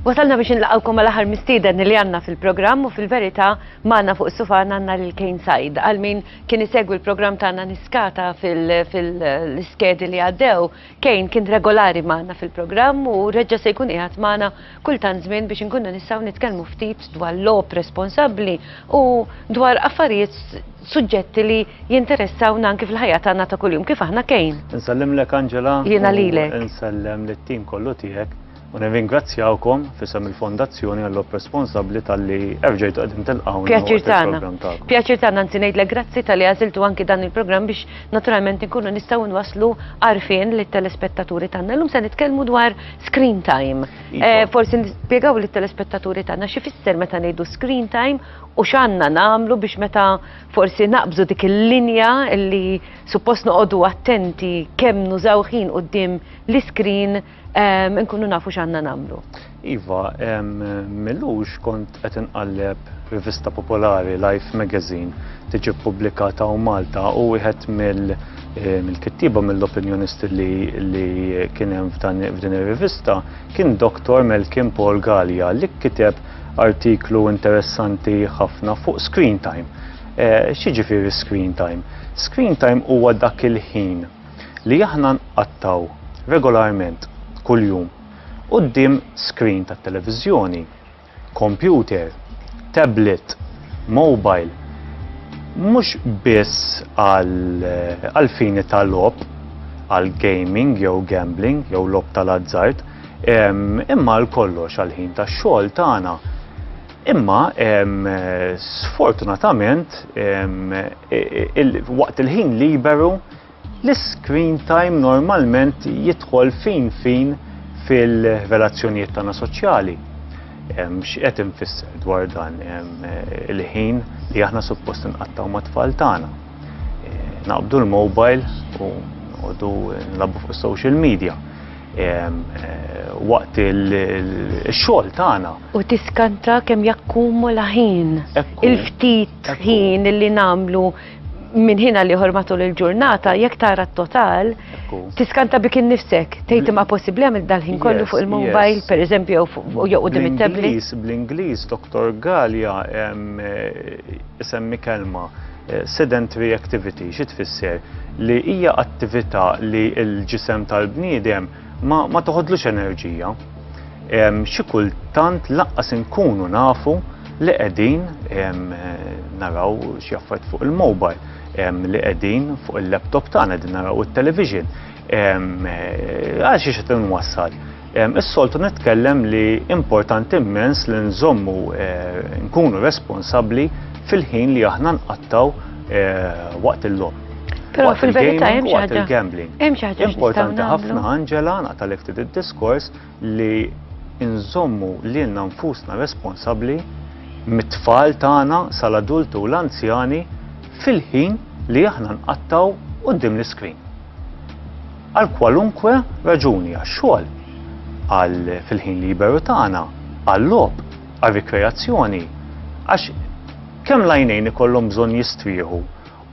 Wasalna biex nlaqawkom għal aħar mistieden li għanna fil-programm u fil-verità maħna fuq sufan għanna lil Kane Said. Għal min kien isegwi l-programm tagħna niskata fil-iskedi li għaddew Kane kien regolari magħna fil-programm u reġġa' se jkun qiegħed magħna kull tant żmien biex inkunu nistgħu nitkellmu ftit dwar logħob responsabbli u dwar affarijiet suġġetti li jinteressawna anki fil-ħajja tagħna ta' kuljum kif aħna Kane. Insellimlek Angela. Jiena lilek. Insellem lit-tim kollu tiegħek. U nirringrazzjawkom fisem il-Fondazzjoni għall-op responsabbli tal-li erġajtu għedin tilqaw. Pjaċir tagħna. Pjaċir tagħna nsi ngħidlek grazzi tal-li għażiltu anki dan il-programm biex naturalment nkunu nistgħu nwasslu għarfien lit telespettaturi tagħna. Llum se nitkellmu dwar screen time. Iva. Eh, forsi nispjegaw lit telespettaturi tagħna xi fisser meta ngħidu screen time u x'għandna nagħmlu biex meta forsi naqbżu dik il-linja li suppost noqogħdu attenti kemm nużaw ħin qudiem l-iskrin Nkunu nafu x'għandna nagħmlu. Iva, millux kont qed inqalleb rivista popolari Life Magazine tiġi ppubblikata u Malta u wieħed mill- Eh, mill-kittiba mill-opinjonist li kien hemm f'din ir-rivista kien Dr. Melkin Paul Gallia li kiteb artiklu interessanti ħafna fuq screen time. Eh, Xiġifieri screen time? Screen time huwa dak il-ħin li aħna nqattgħu regolarment kuljum quddiem screen tat-televiżjoni, kompjuter, tablet, mobile, mhux biss għall-fini ta' logħob, għal gaming jew gambling jew logħob tal-azzard, imma għal kollox, għall-ħin tax-xogħol tagħna. Imma sfortunatament waqt il-ħin liberu l-iscreen time normalment jidħol fin fin fil-relazzjonijiet tagħna soċjali. X'qed infisser dwar dan il-ħin li aħna suppost inqattgħu mat-tfal tagħna. Naqbdu l-mobile u noqogħdu nilagħbu fuq is-social media. waqt il-xogħol tagħna. U tiskanta kemm jakkumula ħin. Il-ftit ħin li nagħmlu minn ħina li matul il-ġurnata, jekk tara t-total, tiskanta bik innifsek, tgħid imma possibbli għamil dal-ħin kollu fuq il-mobile, per eżempju, jew qudiem it-tablet. Bl-Ingliż, Dr. Galja, semmi kelma Sedentary activity xi tfisser? Li hija attività li l-ġisem tal-bniedem ma, ma toħodlux enerġija. Xi kultant laqqas inkunu nafu li qegħdin naraw xi affarijiet fuq il-mobile, li qegħdin fuq il-laptop tagħna qegħdin naraw it-television. Għal xi qed inwassal? Is-soltu nitkellem li importanti immens li nżommu nkunu responsabbli fil-ħin li aħna nqattgħu waqt il-logħob. Però fil-verità hemm xi ħaġa. gambling Hemm xi ħaġa importanti ħafna Angela naqtalek ftit id-diskors li nżommu lilna nfusna responsabbli mit-tfal tagħna sal-adulti u l-anzjani fil-ħin li aħna nqattgħu quddiem l-iskrin. Għal kwalunkwe raġuni għax-xogħol, għal fil-ħin liberu tagħna, għal-logħob, għar-rikreazzjoni, għax kemm l-għajnejn ikollhom bżonn jistrieħu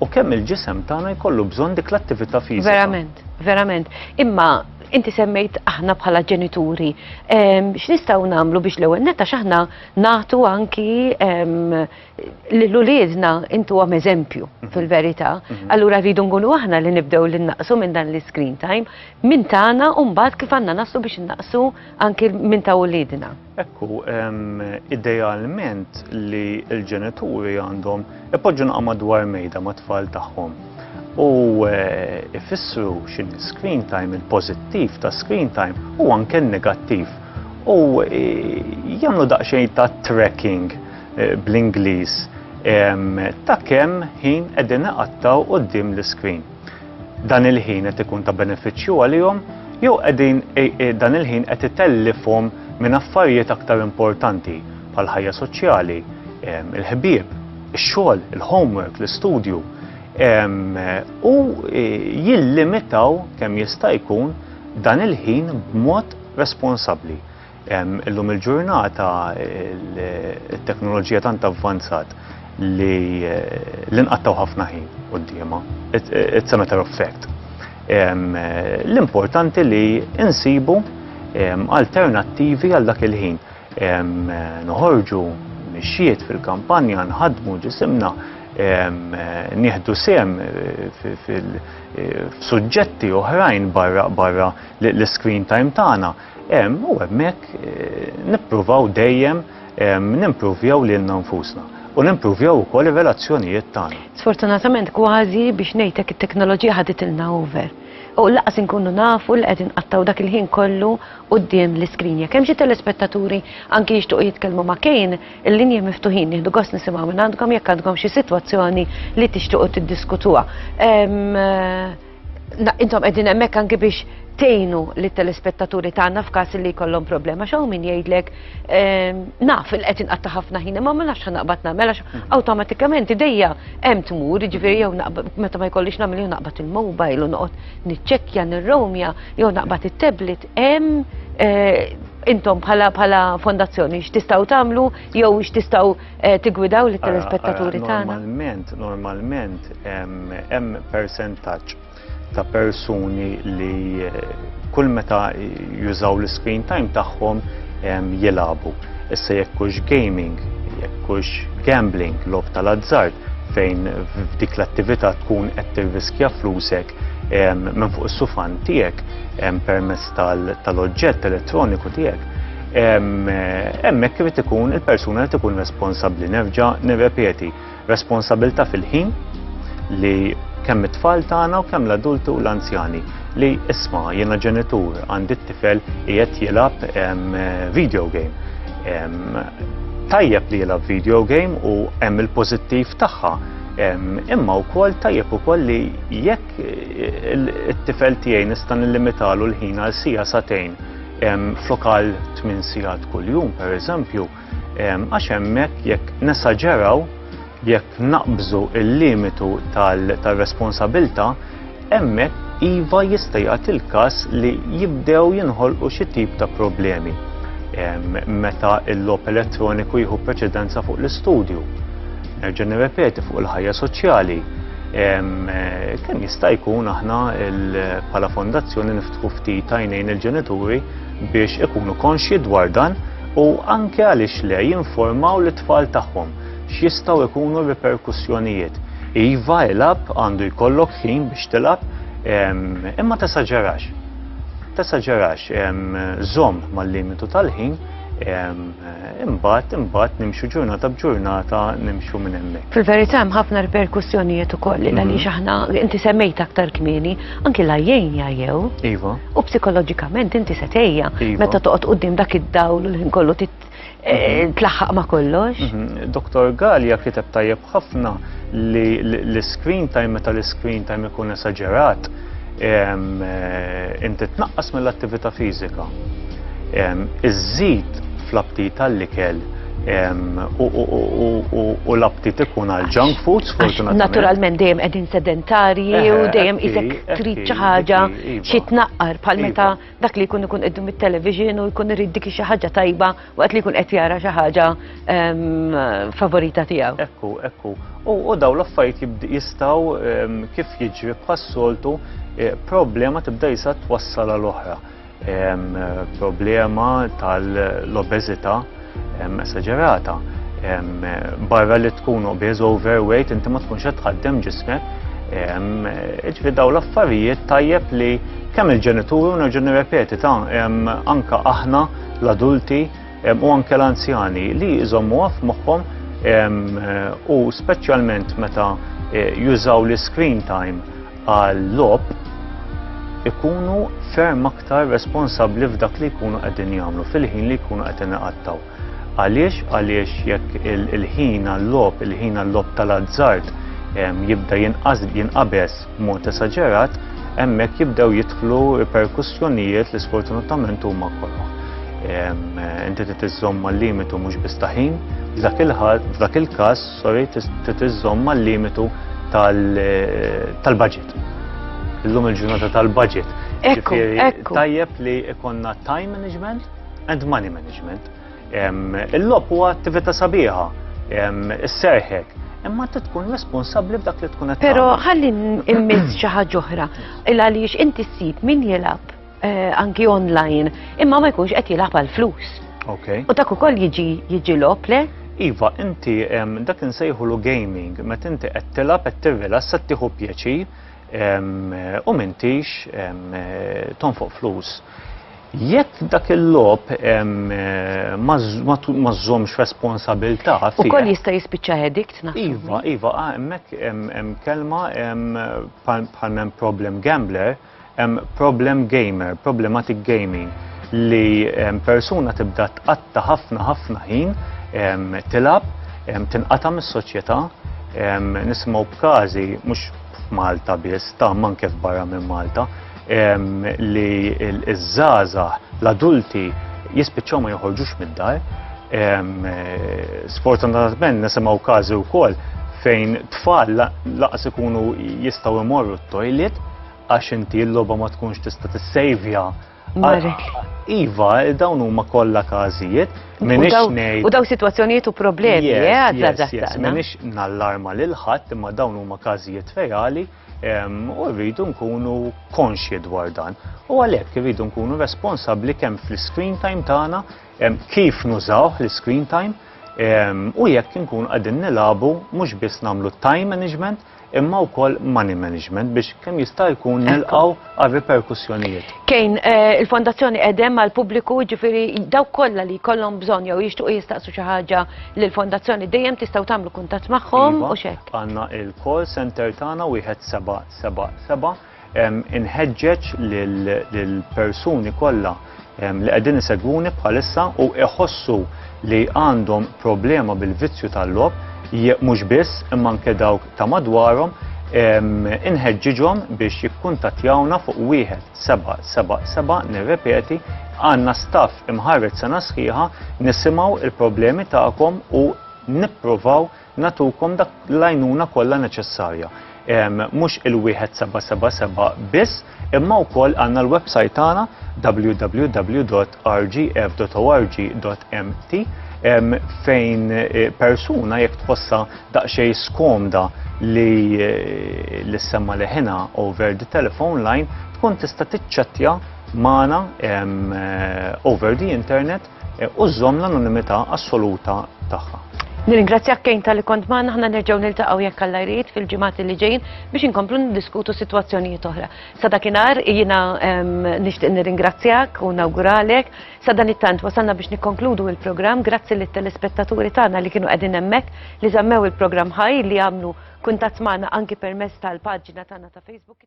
u kemm il-ġisem tagħna jkollu bżonn dik l-attività fiżika. Verament, verament. Imma inti semmejt aħna bħala ġenituri, x'nistgħu nagħmlu biex l-ewwel netta x'aħna nagħtu anki Lil uliedna intuhom eżempju fil-verità, allura rridu nkunu aħna li nibdew li nnaqqsu minn dan l-iscreen time minn tagħna u mbagħad kif għandna naslu biex innaqqsu anki minn ta' uliedna. Ekku, idealment li l-ġenituri għandhom ipoġġu naqa' madwar mejda mat-tfal tagħhom u ifissru x'inhi screen time, il-pożittiv ta' screen time u anke n-negattiv u jagħmlu daqsxejn ta' tracking eh, bl-Ingliż ta' kemm ħin qegħdin iqattaw quddiem l-iskrin. Dan il-ħin qed ikun ta' benefiċċju għalihom jew qegħdin eh, eh, dan il-ħin qed itellifhom minn affarijiet aktar importanti bħal ħajja soċjali, il-ħbieb, ix-xogħol, il-homework, l-istudju. U e, jillimitaw kemm jista' jkun dan il-ħin b'mod responsabbli. Illum il-ġurnata it-teknoloġija tant avvanzat li l-inqattaw ħafna ħin quddiema. It's a matter of fact. L-importanti li insibu alternattivi għal dak il-ħin. Noħorġu mixjiet fil-kampanja, nħadmu ġisimna, nieħdu sem fil-suġġetti oħrajn barra l-screen time tagħna. Hemm u hemmhekk nippruvaw dejjem nimpruvjaw lilna nfusna u nimpruvjaw ukoll ir-relazzjonijiet tagħna. Sfortunatament kważi biex ngħidlek it-teknoloġija ħaditilna over. U laqas inkunu nafu li qegħdin nqattgħu dak il-ħin kollu quddiem l-iskrin. Jekk hemm xi telespettaturi anki jixtiequ jitkellmu ma' Kane, il-linji miftuħin nieħdu gost nisimgħu mingħandkom jekk għandkom xi sitwazzjoni li tixtiequ tiddiskutuha. Intom qegħdin hemmhekk anke biex tgħinu lit-telespettaturi tagħna f'każ li jkollhom problema x'hawn min jgħidlek ehm, naf il qed inqatta' ħafna ħin imma ma nafx naqbad nagħmel għax mhm. awtomatikament idejja hemm tmur, jiġifieri jew meta ma jkollix nagħmel jew naqbad il-mobile u noqgħod niċċekkja nirromja jew naqbad it-tablet hemm eh, intom bħala bħala fondazzjoni x'tistgħu tagħmlu jew x'tistgħu Eh, tigwidaw li telespettaturi eh, tagħna. Normalment, normalment hemm percentaċ ta' persuni li eh, kull meta jużaw l-screen time tagħhom jilabu. Issa jekk hux gaming, jekk hux gambling, lob tal-azzard, fejn f'dik l-attività tkun qed tirriskja flusek minn fuq is-sufan tiegħek permezz tal-oġġett elettroniku tiegħek Hemmhekk irid ikun il-persuna li tkun responsabbli nerġa' nirrepeti responsabilità fil-ħin li kemm it-tfal tagħna u kemm l-adulti u l-anzjani li isma' jiena ġenitur għandi t-tifel qiegħed jilgħab video game. Tajjeb li jilgħab video game u hemm il-pożittiv tagħha imma wkoll tajjeb ukoll li jekk it-tifel tiegħi nista' nillimitalu l-ħin għal sija satejn flok għal 8 sigħat kuljum pereżempju, għax hemmhekk jekk nesaġeraw jekk naqbżu il-limitu tal-responsabilta, hemmhekk iva jista' jagħti l-każ li jibdew jinħolqu xi tip ta' problemi meta l-logħob elettroniku jieħu preċedenza fuq l-istudju. Nerġa' nirrepeti fuq il-ħajja soċjali kemm jista' jkun aħna bħala fondazzjoni niftħu ftit tajnejn il-ġenituri biex ikunu konxji dwar dan u anke għaliex le jinformaw lit tfal tagħhom x'jistgħu jkunu riperkussjonijiet. Iva ilab għandu jkollok ħin biex tilab imma tesaġerax. Tesaġerax żomm mal-limitu tal-ħin Imbagħad, imbagħad nimxu ġurnata b'ġurnata nimxu minn hemmhekk. Fil-verità hemm ħafna riperkussjonijiet ukoll li għaliex mhm. aħna inti semmejt aktar kmieni anki la jgħin jgħajjew. Iva. U psikoloġikament inti se tejja iva. meta toqgħod qudiem dak id-dawl l-ħin kollu eh, mhm. tlaħħaq ma' kollox. Mhm. Doktor Galja kiteb tajjeb ħafna li l-screen time meta l-screen time ikun esaġerat Inti tnaqqas mill-attività fiżika. Iżżid fl-aptit għall-ikel u l-aptit ikun għal junk foods, fortunatament. Naturalment dejjem qegħdin sedentarji u dejjem isek trid xi ħaġa xi tnaqqar bħal meta dak li jkun ikun qiddu mit-television u jkun irid dik xi ħaġa tajba waqt li jkun qed jara xi ħaġa ehm, favorita tiegħu. Ekku, ekku. U daw l-affarijiet jistgħu ehm, kif jiġri bħas-soltu eh, problema tibda jisa twassal għal oħra. Ehm, problema tal-obeżità esagerata. Barra li tkun obez overweight, inti ma tkunx qed tħaddem ġismek. Iġvi daw l-affarijiet tajjeb li kemm il-ġenituri u nerġa' nirrepeti ta' anka aħna l-adulti u anke l-anzjani li jżommu għaf moħħom u speċjalment meta eh, jużaw l-screen time għal-logħob ikunu ferm aktar responsabbli f'dak li jkunu qegħdin jagħmlu fil-ħin li jkunu qed inqattaw. Għaliex għaliex jekk il-ħin għall-logħob, il-ħin għall-logħob tal-azzard jibda jinqabes mod esaġerat, hemmhekk jibdew jidħlu perkussjonijiet li sfortunatament huma kollha. Inti titiżżomm mal-limitu mhux bistaħin, f'dak il-każ Sorry, trid iżżomm mal-limitu tal-budget. Illum il-ġurnata tal-budget. Ekku, ekku. Tajjeb li ikonna time management and money management. Il-lob huwa attività sabiħa, is-serħek, imma t tkun responsabli f'dak li tkun qed Però ħalli immiss xi ħaġa oħra, il għaliex inti ssib min jilgħab eh, anki online, imma ma jkunx qed jilgħab għal flus. Okay. U dak ukoll jiġi jiġi lop le? Iva, inti dak insejħulu gaming, met inti qed tilgħab qed tirrilassa tieħu pjaċi u mintix tonfoq flus. Jekk dak il-lob eh, ma żżomx responsabilta. U koll jista' jispiċċa edikt naħseb. Iva, iva, ah, hemmhekk hemm kelma bħal problem gambler Hemm problem gamer, problematic gaming, li persuna tibda tqatta ħafna ħafna ħin tilab, tinqata' mis-soċjetà, nisimgħu b'każi mhux f'Malta biss, ta' manke f'barra minn Malta, li ż-żgħażagħ, l-adulti jispiċċaw ma joħorġux mid-dar, Sfortunatament nisimgħu każi wkoll fejn tfal laqas ikunu jistgħu imorru t-toilet għax inti l-logħba ma tkunx tista' tissejvja. Iva, dawn huma kollha każijiet. U daw sitwazzjonijiet u problemi, eh, Minix nallarma lil ħadd imma dawn huma każijiet reali u rridu nkunu konxji dwar dan. U għalhekk irridu nkunu responsabbli kemm fl-screen time tagħna kif nużawh l-iscreen time u jekk inkunu qegħdin nilagħbu mhux biss nagħmlu time management imma wkoll money management biex kemm jista' jkun nilqgħu għal riperkussjonijiet. Kejn, eh, il-Fondazzjoni qegħdem għal pubbliku ġifieri daw kollha li jkollhom bżonn jew jixtuq jistaqsu xi ħaġa lill-Fondazzjoni dejjem tistgħu tagħmlu kuntatt magħhom iva, u xek. Għandna il-call center tagħna wieħed seba' seba' seba' Inħeġġeġ lill-persuni kollha li qegħdin isegwuni bħalissa u jħossu li għandhom problema bil-vizzju tal-logħob, mhux biss imma anke dawk ta' madwarhom, inħeġġiġhom biex jikkuntattjawna fuq 1777, nirrepeti, għandna staff imħarreġ sena sħiħa, nisimgħu l-problemi tagħkom u nippruvaw nagħtukom dak l-għajnuna kollha neċessarja. Mhux il-wieħed 777 biss, imma wkoll għandna l-website tagħna www.rgf.org.mt fejn eh, persuna jekk tħossha daqsxejn skomda li eh, l-semma leħina over the telephone line tkun tista' tiċċettja magħna eh, over the internet u żżomm l-anonimità assoluta tagħha. Nirringrazzjak Kane tal-li kont magħna aħna nerġgħu niltaqgħu jekk Alla jrid fil-ġimgħat li ġejjin biex inkomplu niddiskutu sitwazzjonijiet oħra. Sa dakinhar jiena nixtieq nirringrazzjak u nawguralek sa dan it-tant wasalna biex nikkonkludu il-programm grazzi lit telespettaturi tagħna li kienu qegħdin hemmhekk li żammew il-programm ħaj li għamlu kuntatt magħna anki permezz tal-paġna tagħna ta' Facebook.